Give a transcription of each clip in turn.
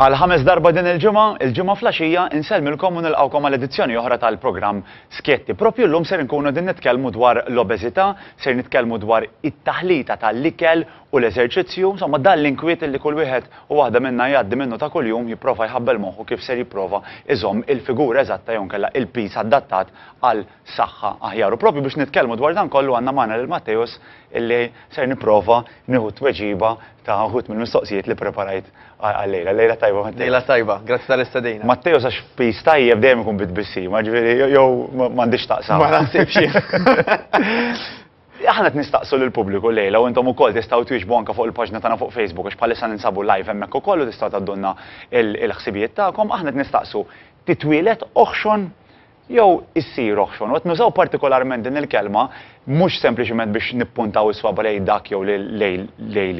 Għal ħames darba din il-ġimgħa, il-ġimgħa flaxija insellmilkom u nilqgħukom għal edizzjoni oħra tal-programm Skjetti. Propju llum ser inkunu din nitkellmu dwar l-obeżità, ser nitkellmu dwar it-taħlita tal-ikel u l-eżerċizzju, insomma, dan l-inkwiet li kull wieħed u waħda minna jgħaddi minnu ta' kuljum jipprova jħabbel moħħu kif ser jipprova iżomm il-figura eżatta jew inkella il-piż adattat għal saħħa aħjar. U proprju biex nitkellmu dwar dan kollu għandna magħna lil Matteus illi ser nipprova nieħu t-tweġiba ta' wħud mill-mistoqsijiet li ppreparajt għal-lejla. Lejla tajba Matteus. Lejla tajba, grazzi tal-istedina. Matteus għax piż tajjeb dejjem ikun bi tbissima, ġifieri jew m'għandix x'taqsam. Ma naħsibx jien. Aħna qed nistaqsu lill-pubbliku llejla u intom ukoll tistgħu twieġbu anke fuq il-paġna tagħna fuq Facebook għax bħalissa ninsabu live hemmhekk ukoll u tistgħu tgħaddulna l-ħsibijiet tagħkom. Aħna qed nistaqsu, titwieled oħxon jew issir oħxon? U qed nużaw partikolarment din il-kelma mhux sempliċement biex nippuntaw is-swaba' lejn dak jew lejn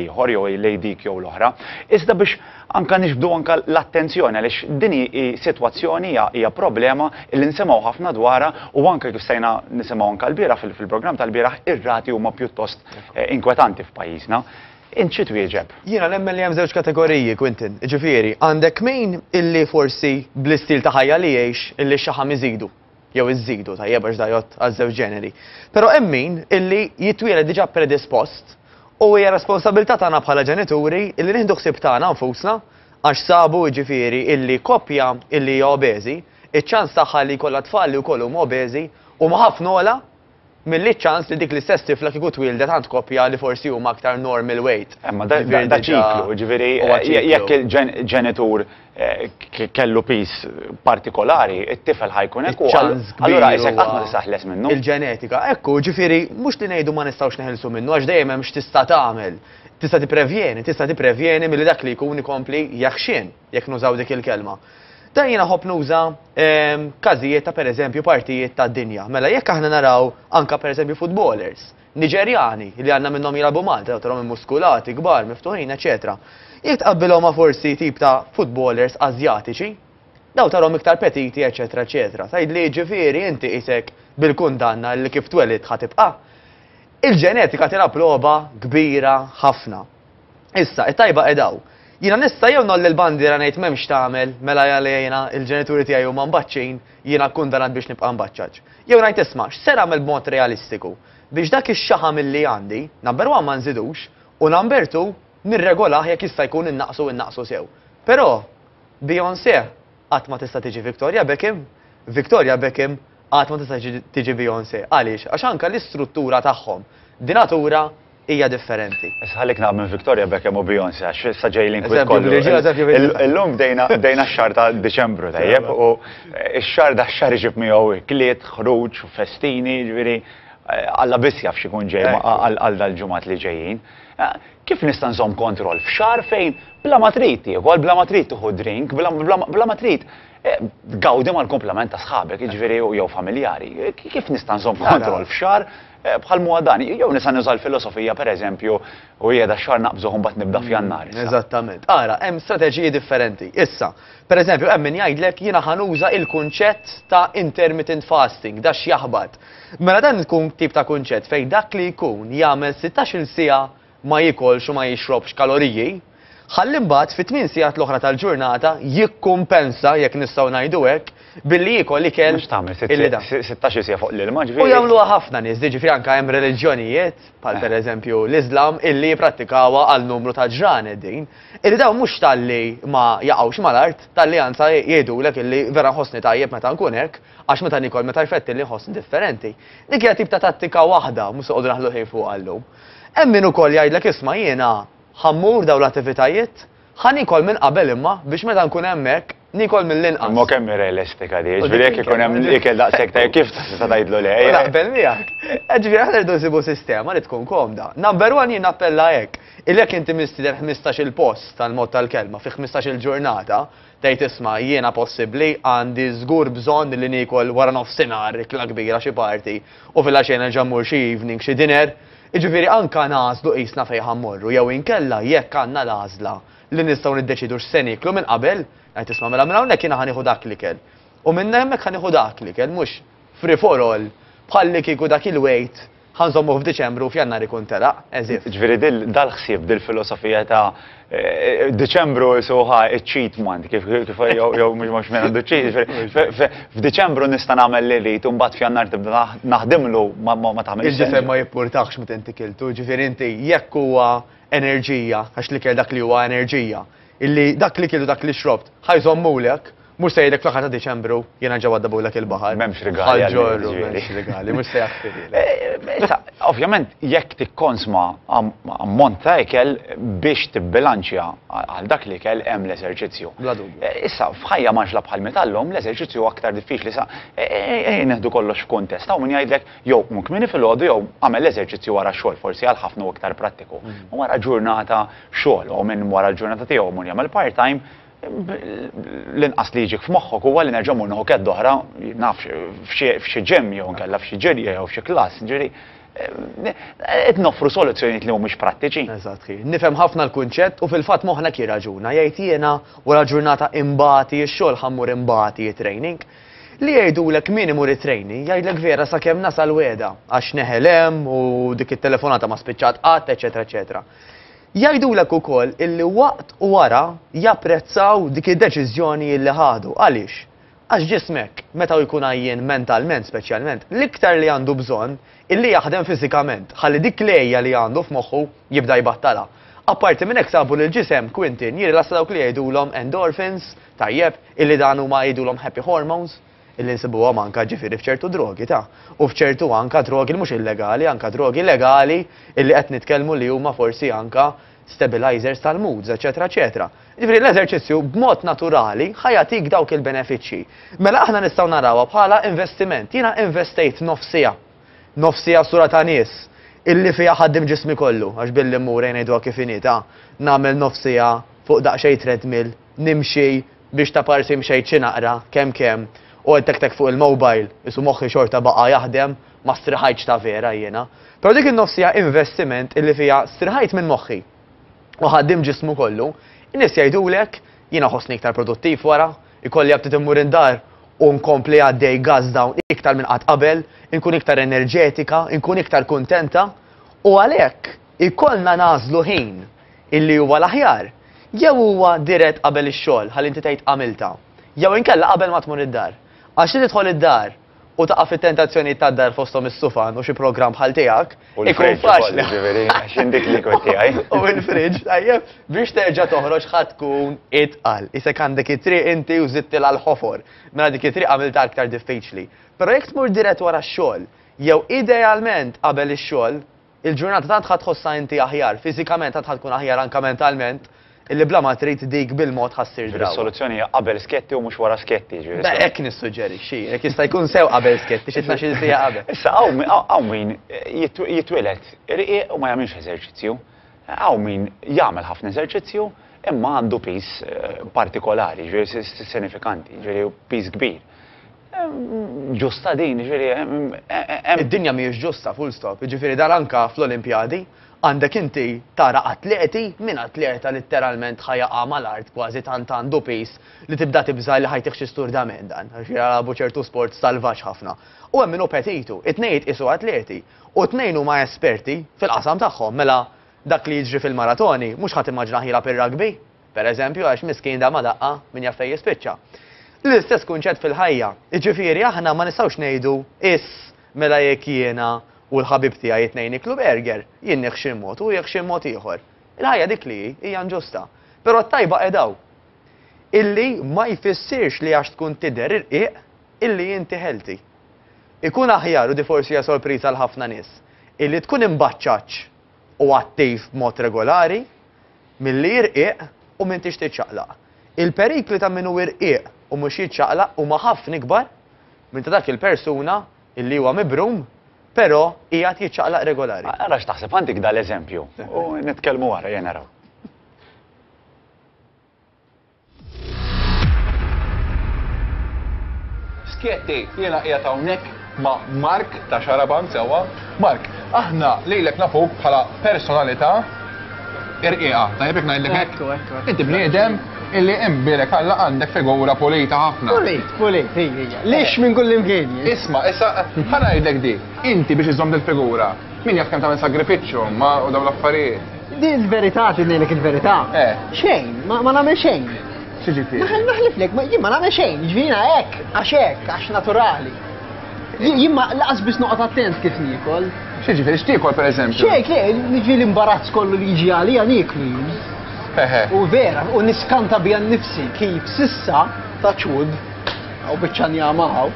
ieħor jew lejn dik jew l-oħra, iżda biex Anka niġbdu anka l-attenzjoni għaliex din hi sitwazzjoni hija problema li nsimgħu ħafna dwarha u anke kif stajna nisimgħu anke lbieraħ fil-programm tal-bieraħ ir-rati huma pjuttost inkwetanti f'pajjiżna. Int xi twieġeb? Jiena nemmen li hemm żewġ kategoriji, Quintin. Jiġifieri, għandek min illi forsi bl-istil ta' ħajja li jgħix illi x-xaħam iżidu. jew iżżidu, tajjeb għax da jgħodd għaż-żewġ ġeneri. Però hemm min illi jitwieled diġà predispost u hija responsabilità tagħna bħala ġenituri illi nieħdu ħsieb tagħna nfusna għax sabu jiġifieri illi koppja illi hija obeżi, iċ-ċans tagħha li jkollha tfal li wkoll huma obeżi huma ħafna ogħla Milli ċ-ċans li dik l-istess tifla kieku twieldet għand koppja li forsi huma aktar normal weight. Eh, ma da ċiklu, jiġifieri eh, jekk il-ġenitur eh, kellu piż partikolari, it-tifel ħajkun hekk. Ċans allura isek qatt ma tisaħles minnu. Il-ġenetika, ekku, ġifieri mhux li ngħidu ma nistgħux neħilsu minnu għax dejjem hemm x'tista' tagħmel. Tista' tipprevjeni, tista' tipprevjeni milli dak li jkun ikompli jaħxien. jekk nużaw dik il-kelma. Dan jiena ħobb nuża ehm, każijiet ta' pereżempju partijiet ta' dinja. Mela jekk aħna naraw anka pereżempju footballers, Niġerjani li għandna minnhom jilagħbu Malta, trawhom muskulati, kbar, miftuħin, eċetera. Jekk tqabbilhom ma' forsi tip ta' footballers Azjatiċi, daw tarhom iktar petiti, eċetera, eċetera. Tgħid li ġifieri inti isek bil-kundanna li kif twelid ħatibqa'. Il-ġenetika tilgħab logħba kbira ħafna. Issa, it-tajba qiegħda hawn. Jiena nista' jew ngħolli l-bandiera ngħid m'hemmx x'tagħmel, mela jale jiena, il-ġenituri tiegħi huma mbaċċin, jiena kkundanat biex nibqa' mbaċċaġ. Jew ngħid isma', x'ser agħmel b'mod realistiku? Biex dak ix-xaħam illi għandi, number one ma nżidux, u number two, nirregolah jekk jista' jkun innaqqsu u nnaqqsu sew. Però, Beyoncé, Qatt ma tista' tiġi Victoria Beckham. Victoria Beckham qatt ma tista' tiġi Beyoncé. Għaliex? Għax anke l-istruttura tagħhom di natura hija differenti. Issa ħallik nagħlaq minn Victoria Beckham u Beyoncé għax issa ġej l-inkwiet kollu. Eżempju biex, eżempju biex. Illum bdejna x-xahar ta' Diċembru, tajjeb, u x-xahar dax-xahar iġib miegħu ikliet, ħruġ, festini, jiġifieri Alla biss jaf x'ikun ġej għal dal-ġimgħat li ġejjin. Kif nista' nżomm kontroll f'xahar fejn bla ma trid tiekol, bla ma trid tieħu drink, bla ma trid tgawdi mal-kumplament ta' sħabek, jiġifieri jew familjari. Kif nista' nżomm kontroll f'xahar bħal m'huwa dan? Jew nista' nuża l-filosofija, pereżempju, u qiegħda xahar naqbżuh u mbagħad nibda f'Jannar issa. Eżattament. Ara, hemm strateġiji differenti. Issa, pereżempju, hemm min jgħidlek jiena ħa nuża l-kunċett ta' intermittent fasting, da x'jaħbat? Mela dan ikun tip ta' kunċett fejn dak li jkun jagħmel sittax-il siegħa ma jiekolx u ma jixrobx kaloriji, ħalli mbagħad fit-tmien siegħat l-oħra tal-ġurnata jikkumpensa, jekk nistgħu ngħidu hekk, billi jiekol ikel illi dan. Mhux tagħmel sittax-il siegħa fuq l-ilma, ġifieri. U jagħmluha ħafna nies, jiġifieri anke hemm reliġjonijiet, bħal pereżempju l-Iżlam, illi jipprattikawha għal numru ta' ġranet din, illi dawn mhux talli ma jaqgħux mal-art, talli anzi jgħidulek illi vera nħossni tajjeb meta nkun hekk, Għax meta niekol meta jfettilni nħossni differenti. Dik hija tip ta' tattika waħda, mhux se noqogħdu naħlu ħin fuqha llum. Hemm min ukoll jgħidlek isma' jiena ħa mmur dawn l-attivitajiet, ħa niekol minn qabel imma biex meta nkun hemmhekk niekol mill-inqas. Imma kemm hi realistika di, jiġifieri jekk ikun hemm ikel daqshekk tajjeb kif tista' tgħidlu le? Naqbel miegħek. Jiġifieri aħna rridu nsibu sistema li tkun komda. Number one jien nappella hekk, illi jekk inti mistieden ħmistax-il post tal-mod tal-kelma fi ħmistax-il ġurnata, Tgħid isma', jiena possibbli għandi żgur bżonn li niekol waranofsinhar ikla kbira xi party u filgħaxija nerġa' mmur xi evening, xi dinner. Jiġifieri anka ngħażlu qisna fejn ħa mmorru jew inkella jekk għandna l-għażla li nistgħu niddeċiedu x'se nieklu minn qabel, ngħid isma' mela minn hawnhekk jiena ħa nieħu dak l-ikel u minn hemmhekk ħa nieħu dak l-ikel mhux free for all bħallikieku dak il-wait Ħa nżommuh f'Diċembru u f'Jannar ikun telaq, as if. Ġifieri dal-ħsieb, dil-filosofija ta' Diċembru isuha ċ-cheat month, kif jew mhux mhux min għandu cheat, ġifieri f'Diċembru nista' nagħmel li rrid u mbagħad f'Jannar tibda naħdimlu ma tagħmilx sens. Il-ġisem ma jippurtahx meta inti kiltu, ġifieri inti jekk huwa enerġija, għax l-ikel dak li huwa enerġija, illi dak li kilt u dak li xrobt ħa jżommulek, Mhux se jgħidlek fl-aħħar ta' Diċembru jiena ġewwa ddabullek il-baħar. M'hemmx rigali għall-ġorru. M'hemmx rigali, mhux se jaħfirlek. Eh, issa, ovvjament jekk tikkonsma ammont ta' ikel biex tibbilanċja għal dak li kell hemm l-eżerċizzju. Bla dubju. Eh, issa, f'ħajja maġla bħal metallhom, l-eżerċizzju aktar diffiċli sa eh, neħdu kollox f'kuntest. Hawn min jgħidlek jew munk minni fil-għodu jew għamel l-eżerċizzju wara xogħol forsi għal ħafna u iktar prattiku. Mm. Wara ġurnata xogħol, u minn wara l-ġurnata tiegħu mur jagħmel part-time, l-inqas li jiġik f'moħħok huwa li nerġa' mmur nieħu kedd oħra, nafx, f'xi ġimm jew inkella f'xi ġirja jew f'xi klass, ġifieri qed noffru soluzzjonijiet li mhumiex prattiċi. Eżatt ħi. Nifhem ħafna l-kunċett u fil-fatt moħħna jirraġuna, jgħid jiena wara ġurnata imbagħti x-xogħol ħa mmur imbagħti it-training. Li jgħidulek min imur it-training jgħidlek vera sakemm nasal wegħda għax neħel hemm u dik it-telefonata ma spiċċat qatt, eċċetera eċċetera. Jgħidulek ukoll illi waqt u wara japprezzaw dik id-deċiżjoni illi ħadu. Għaliex? Għax ġismek, meta hu jkun għajjien mentalment speċjalment, l-iktar li għandu bżonn illi jaħdem fiżikament ħalli dik l-għeja li għandu f'moħħu jibda jbattalha. Apparti minn hekk sabu li l-ġisem, Quintin, jirrilassa dawk li jgħidulhom endorphins, tajjeb, illi dan huma jgħidulhom happy hormones. li nsibuhom anke ġifieri f'ċertu drogi ta', u f'ċertu anke drogi li mhux illegali, anke drogi legali illi qed nitkellmu li huma forsi anke stabilizers tal-moods, eċċetera eċċetera. Ġifieri l-eżerċizzju b'mod naturali ħa jagħtik dawk il-benefiċċji. Mela aħna nistgħu narawha bħala investiment. Jiena investejt nofsiha, nofsiha sura ta' nies illi fiha ħaddim ġismi kollu, għax billi mmur, ejja ngħiduha kif inhi ta', nagħmel nofsiha fuq daqsxejn treadmill, Nimxi biex ta' parsi mxejt xi naqra, kemm kemm, u għedt hekk hekk fuq il-mobile, qisu moħħi xorta baqa' jaħdem, ma striħajtx ta' vera jiena. Però dik in-nofs siegħa investiment illi fiha striħajt minn moħħi. U ħaddim ġismu kollu. In-nies jgħidulek, jiena ħossni iktar produttiv wara, ikolli aptit immur id-dar u nkompli għaddej gas down iktar minn qatt qabel, inkun iktar enerġetika, inkun iktar kuntenta. U għalhekk. Ikollna nagħżlu ħin illi huwa l-aħjar, jew huwa dirett qabel ix-xogħol ħalli inti tgħid għamiltha, jew inkella qabel ma tmur id-dar. Għax li tidħol id-dar u taqa' fit-tentazzjonijiet tad-dar fosthom is-sufan u xi programm bħal tiegħek, ikun faċli. U l-fridge ukoll, jiġifieri, għax jien dik li kont tiegħi. U l-fridge, tajjeb, biex terġa' toħroġ ħa tkun itqal. Isek għandek it-triq inti u żidtilha l-ħofor. Mela dik it-triq għamiltha aktar diffiċli. Però jekk tmur dirett wara x-xogħol, jew idealment qabel ix-xogħol, Il-ġurnata tant ħa tħossha inti aħjar fiżikament tant ħa tkun aħjar anke mentalment illi bla ma trid dik bil-mod ħa ssir drawwa. Ġifieri s-soluzzjoni hija qabel sketti u mhux wara sketti, jiġifieri s-soluzzjoni. Hekk nissuġġerixxi. Jekk jista' jkun sew qabel sketti, xi tnax-il siegħa qabel. Issa hawn min jitwieled irqiq u ma jagħmilx eżerċizzju. Hawn min jagħmel ħafna eżerċizzju imma għandu piż partikolari, jiġifieri sinifikanti, jiġifieri piż kbir. Ġusta din, jiġifieri hemm. Id-dinja mhijiex ġusta, full stop. Jiġifieri dan anke fl-Olimpjadi għandek inti tara atleti, min atleta litteralment ħa jaqa' mal-art kważi tant għandu piż li tibda tibża' li ħa jtih xi sturdament dan, għax jilagħbu ċertu sport salvaġġ ħafna. U hemm min hu petitu. It-tnejn jitqiesu atleti u t-tnejn huma esperti fil-qasam tagħhom. Mela dak li jiġri fil-maratoni mhux ħa timmaġinah jilgħab ir-rugby. Per eżempju, għax miskin da ma daqqa, min jaf fejn jispiċċa. L-istess kunċett fil-ħajja. Jiġifieri aħna ma nistgħux ngħidu, Iss, mela jekk jiena u l-ħabib tiegħi it-tnejn niklu burger, jien nieħ xi mod u hu jieħ xi mod ieħor. Il-ħajja dik li hi, hija inġusta. Però t-tajba qed hawn. Illi ma jfissirx li għax tkun tidher irqiq, illi inti healthy. Ikun aħjar u di forsi hija sorpriża għal ħafna nies, illi tkun imbaċċaċċ u attiv b'mod regolari, milli jirqiq u m'intix tiċċaqlaq. Il-perikli ta' min hu irqiq u mhux jiċċaqlaq huma ħafna ikbar minn ta' dak il-persuna li huwa mibrum però qiegħed jiċċaqlaq regolari. Ara x'taħseb, għandik dal-eżempju u nitkellmu wara, ejja naraw. Schietti, jiena qiegħed hawnhekk ma' Mark ta' Xaraban sewwa. Mark, aħna lejlek nafuk bħala personalità irqiqa, tajjeb jekk ngħidlek hekk. Inti bniedem illi imbirek għalla għandek figura pulita ħafna. Pulit, pulit, hija. Lix minn kull imkien. Isma, issa ħanajdlek di, inti biex iżomm il-figura, Min jaf kemm tagħmel sagrifiċċju ma u dawn l-affarijiet. Di l-verità tinnek il-verità. Eh. Xejn, ma nagħmel xejn. Xiġifieri. Naħel naħliflek, ma jien ma nagħmel xejn, ġvina hekk, għax hekk, għax naturali. Jien ma laqas biss noqgħod attent kif nikol. Xiġifieri x'tiekol pereżempju? Xejk, niġi l-imbarazz kollu li jiġi għalija nikli. U vera, u niskanta bija nifsi kif sissa ta' ċud, għaw bieċan jamaw,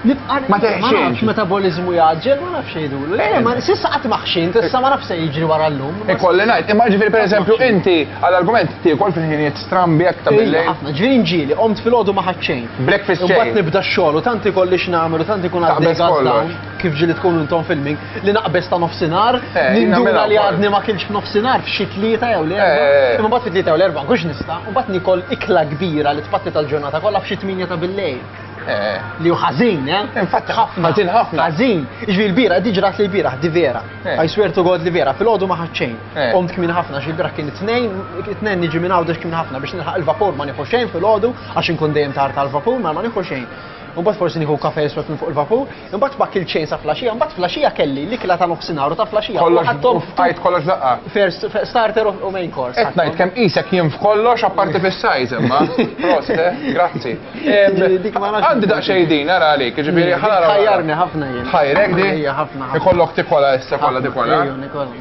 Nibqa' ma nafx metaboliżmu jgħaġġel, ma nafx jgħidulu. Le, ma sissa qatt ma ħxint, issa ma nafx se jiġri wara llum. Ikolli ngħid, imma ġifieri pereżempju inti għall-argument tiekol fil-ħinijiet strambi jekk ta' billi. Ħafna, ġifieri nġieli, qomt fil-għodu ma ħaċċejn. Breakfast chain. Imbagħad nibda x-xogħol u tant ikolli x'nagħmel u tant ikun għaddej kif ġieli tkun intom filming li naqbeż ta' nofsinhar, eh, nindura li għadni ma kienx f'nofsinhar f'xi tlieta jew li erba'. Eh, eh. Imma mbagħad fit-tlieta jew l-erba' kux nista', mbagħad nikol ikla kbira li tpatti tal-ġurnata kollha f'xi tminja ta' billejl. Li hu ħażin, eh? Infatti, ħafna. Ħażin ħafna. Ħażin. Iġvi l-bira, di ġrat li l-bira, di vera. Eh. I swear to God li vera, fil-ħodu ma ħadxejn. Eh. Omt kmin ħafna, xi bira kien it-tnejn, it-tnejn niġi minn għawdex kmin ħafna biex nilħaq il-vapur ma nieħu xejn fil-ħodu, għax inkun dejjem tar tal-vapur ma ma nieħu xejn. U bat forsi nieħu kafe jiswet minn fuq il-vapur, Imbagħad ma kilt xejn sa flaxija, imbagħad flaxija kelli l-ikla ta' nofsinhar u ta' flaxija. Kollox f'qajt kollox daqqa. First starter u main course. Qed ngħid kemm qisek jien f'kollox apparti fis-size imma. Prost, eh? Grazzi. Għandi daqsxejn din ara għalik, jiġifieri ħa naraw. Tħajjarni ħafna jien. Tħajrek din? Ħajja ħafna. Ikollok tikola issa kollha tikola.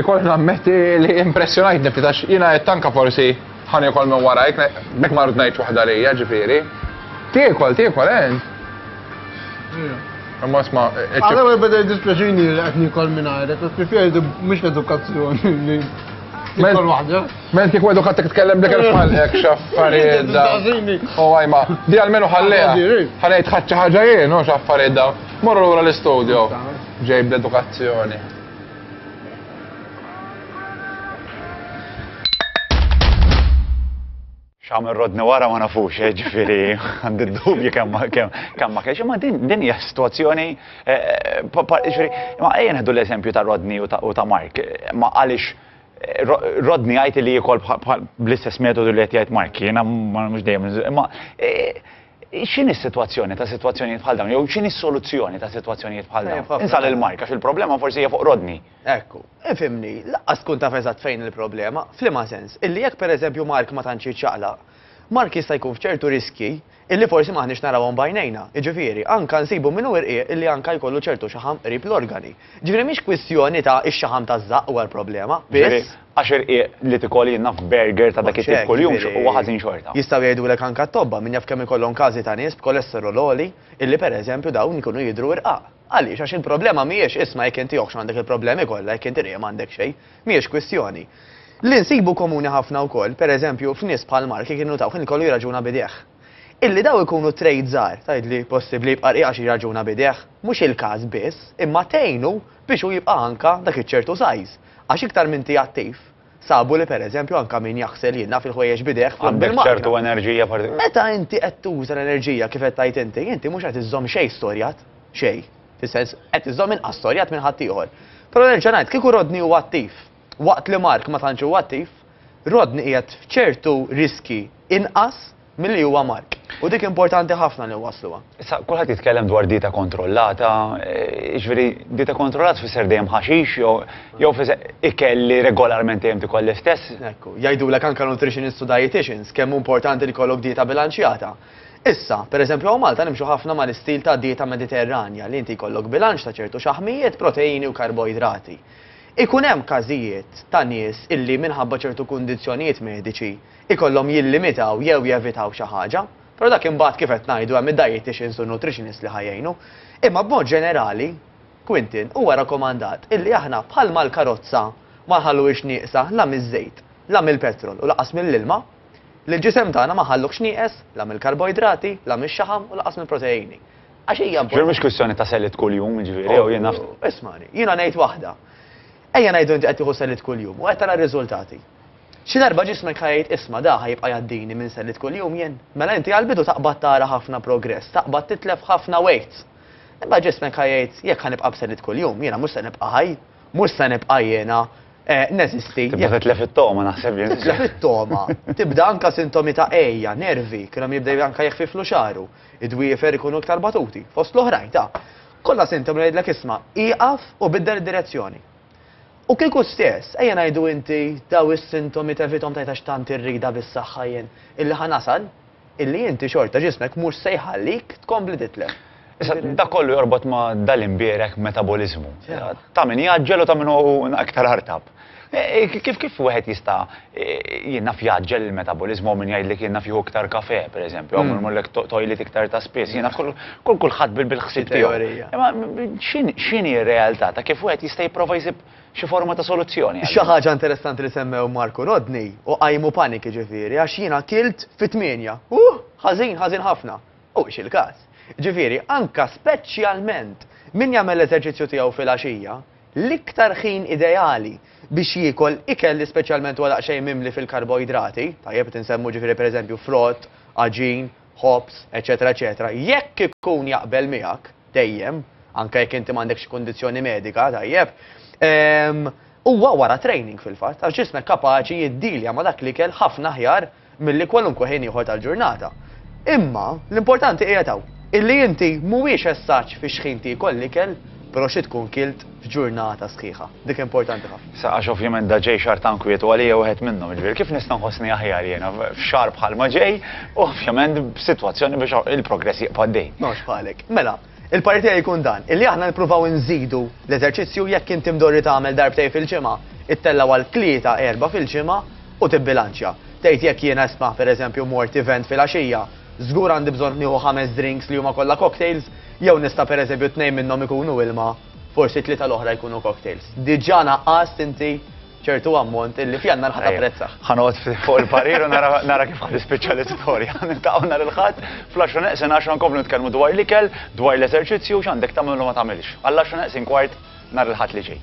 Ikoll nammetti li impressjonajt nifti tax jina qed tanka forsi ħani kol minn wara jek mek ma rrid ngħid waħda lejja ġifieri. Tiekol, tiekol ent. Imma sma. Għalhekk qed beda dispjaċini li qed nikol minn għajrek, qed preferi mhux l-edukazzjoni li Tikol waħda. Men kieku edukattek tkellem dik il-falqek xaffariet da. U għajma, di għalmenu ħalleja. Ħalejt ħadċa ħagġa jien, u xaffariet da. Morru l-għura l-istudio. Ġejb l-edukazzjoni. X'għamel Rodney wara ma nafux, eh, ġifieri għandi d-dubju kemm kemm ma kienx, imma din din hija sitwazzjoni eh, ġifieri ma ejja neħdu l-eżempju ta' Rodney u ta' Mark, ma għaliex eh, Rodney għajti li jikol bl-istess metodu li qed jgħid Mark, jiena mhux dejjem, imma X'inhi s-sitwazzjoni ta' sitwazzjonijiet bħal dawn jew x'inhi s-soluzzjoni ta' sitwazzjonijiet bħal dawn? Insal il-mark għax il-problema forsi hija fuq Rodney. Ekku, ifhimni, lanqas tkun taf eżatt fejn il-problema, f'liema sens, illi jekk pereżempju Mark ma tantx jiċċaqlaq, Mark jista' jkun f'ċertu riskji illi forsi m'aħniex narawhom b'għajnejna, jiġifieri, anke nsibu minnu irqiq illi anke jkollu ċertu xaħam qrib l-organi. Ġifieri mhix kwistjoni ta' ix-xaħam taż-żaqq huwa l-problema, biss. Għax irqiq li tikoli naf burger ta' dak it-tip kuljum huwa ħażin xorta. Jistgħu jgħidulek anke t-tobba, min jaf kemm ikollhom każi ta' nies b'kolesterol għoli illi per eżempju dawn ikunu jidhru irqaq. Għaliex? Għax il-problema mhijiex isma' jekk inti oħx m'għandek il-problemi kollha jekk inti rieqi m'għandek xejn. Mhijiex kwistjoni. Li nsibu komuni ħafna wkoll, per eżempju, f'nies bħal Mark jekk innutaw kien ikollu jirraġuna b'idejh. Illi dawn ikunu trade żgħar, tgħidli possibbli jibqa' rqiq għax jirraġuna b'idejh? Mhux il-każ biss, imma tgħinu biex hu jibqa' anka dak iċ-ċertu size, għax iktar m'inti attiv, sabu li pereżempju anka min jaħsel jilaf il-ħwejjeġ b'idejh flok bil-makna. Għandek ċertu enerġija partikolari. Meta inti qed tuża l-enerġija kif qed tgħid inti, inti mhux qed iżżomm xejn storjat, xejn, fis-sens, qed iżżomm inqas storjat minn ħaddieħor. Però nerġa' ngħid, kieku Rodney huwa attiv, Waqt li Mark ma tantx hu attiv, Rodney qiegħed f'ċertu riskji inqas milli huwa Mark, u dik importanti ħafna li nwassluha. Issa, kulħadd jitkellem dwar dieta kontrollata, jiġifieri dieta kontrollata tfisser dejjem ħaxix jew jew tfisser ikel li regolarment dejjem tiekol l-istess? Ekku, jgħidulek anke nutritionists u dieticians kemm hu importanti li jkollok dieta bilanċjata. Issa, per eżempju hawn Malta nimxu ħafna mal-istil ta' dieta Mediterranja li inti jkollok bilanċ ta' ċertu xaħmijiet, proteini u karboidrati. Ikun hemm każijiet ta' nies illi minħabba ċertu kundizzjonijiet mediċi jkollhom jillimitaw jew jevitaw xi ħaġa, però dak imbagħad kif qed ngħidu hemm id-dieticians u n-nutritionist li ħa jgħinu. Imma b'mod ġenerali, Quintin, huwa rakomandat illi aħna bħal mal-karozza ma nħalluhiex nieqsa la miż-żejt, la mill-petrol u lanqas mill-ilma, lill-ġisem tagħna ma nħalluhx nieqes la mill-karboidrati, la mix-xaħam u lanqas mill-proteini. Għax hija importanti. Ġifieri mhux kwistjoni ta' selliet kuljum, jiġifieri, jew jien naf. Ismagħni, jiena ngħid waħda. Ejja ngħidu inti qed tieħu selliet kuljum u qed tara r-riżultati. Xi darba ġismek ħa jgħid isma' da ħa jibqa' jgħaddini minn selliet kuljum jien. Mela inti għall-bidu taqbad tara ħafna progress, taqbad titlef ħafna weight. Imbagħad ġismek ħa jgħid jekk ħa nibqa' b'selliet kuljum, jiena mhux se nibqa' ħaj, mhux se nibqa' jiena neżisti. Tibda titlef it-togħma naħseb jien. Titlef it-togħma. Tibda anke sintomi ta' għeja, nervi, kienu jibdew anke jeħfiflu xagħru. Id-dwiefer ikunu iktar batuti, fost l-oħrajn ta', kollha sintomi li jgħidlek isma', ieqaf u biddel id-direzzjoni. U kieku stess, ejja ngħidu inti dawn is-sintomi tevithom tgħid għax tant irridha bis-saħħa jien, illi ħa nasal, illi inti xorta ġismek mhux se jħallik tkompli titlef. Issa, dak kollu jorbot ma' dal-imbierek metaboliżmu. Ta' min jgħaġġel u ta' min hu iktar artab. Kif kif wieħed jista' jien naf jgħaġġel il-metaboliżmu hawn min jgħidlek jien naf jieħu iktar kafè, pereżempju, hawn min imurlek toilet iktar ta' spiss, jien naf kull kulħadd bil-ħsieb tiegħu. Imma x'inhi r-realtà ta' kif wieħed jista' jipprova jsib xi forma ta' soluzzjoni? Xi ħaġa interessanti li semmew Mark u Rodney u qajmu paniki ġifieri għax jiena kilt fit-tmienja. Huh! Ħażin, ħażin ħafna. Huwiex il-każ. Ġifieri anke speċjalment min jagħmel l-eżerċizzju tiegħu filgħaxija, L-iktar ħin ideali biex jiekol ikel li speċjalment huwa daqsxejn mimli fil-karboidrati, tajjeb qed insemmu ġifieri pereżempju frott, għaġin, ħobż, eċċetera eċċetera, jekk ikun jaqbel miegħek, dejjem, anke jekk inti m'għandekx xi kundizzjoni medika, tajjeb, huwa wara training fil-fatt, għax ġismek kapaċi jiddilja ma' dak l-ikel ħafna aħjar milli kwalunkwe ħin ieħor tal-ġurnata. Imma, l-importanti qiegħed hawn, illi inti mhuwiex eżatt fi x'ħin tiekol l-ikel, però xi tkun kilt f'ġurnata sħiħa. Dik importanti ħafna. Sa għax ovvjament da ġej xahar ta' inkwiet u għalija wieħed minnhom, jiġifieri kif nista' nħossni aħjar jiena f'xahar bħalma ġej u ovvjament b'sitwazzjoni biex il-progress jibqa' għaddej. M'hawnx bħalek. Mela, Il-parir tiegħi jkun dan, illi aħna nippruvaw inżidu l-eżerċizzju jekk inti mdorri tagħmel darbtejn fil-ġimgħa, ittella' għal tlieta, erbgħa fil-ġimgħa u tibbilanċja. Tgħid jekk jiena isma', pereżempju, mort event filgħaxija, żgur għandi bżonn nieħu ħames drinks li huma kollha cocktails, jew nista' pereżempju tnejn minnhom ikunu ilma, forsi t-tlieta l-oħra jkunu cocktails. Diġà naqqast inti ċertu ammont illi f'Jannar ħa tapprezza. Ħa noqgħod fuq il-parir u nara kif ħa tispiċċa l-istorja. Niltaqgħu nhar il-Ħadd fl-10 neqsin 10 nkomplu nitkellmu dwar l-ikel, dwar l-eżerċizzju x'għandek tagħmel u ma tagħmilx. Għall-10 neqsin kwart nhar il-Ħadd li ġej.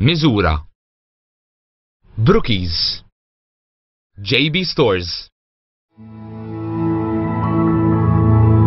Miżura. Brookies. JB Stores.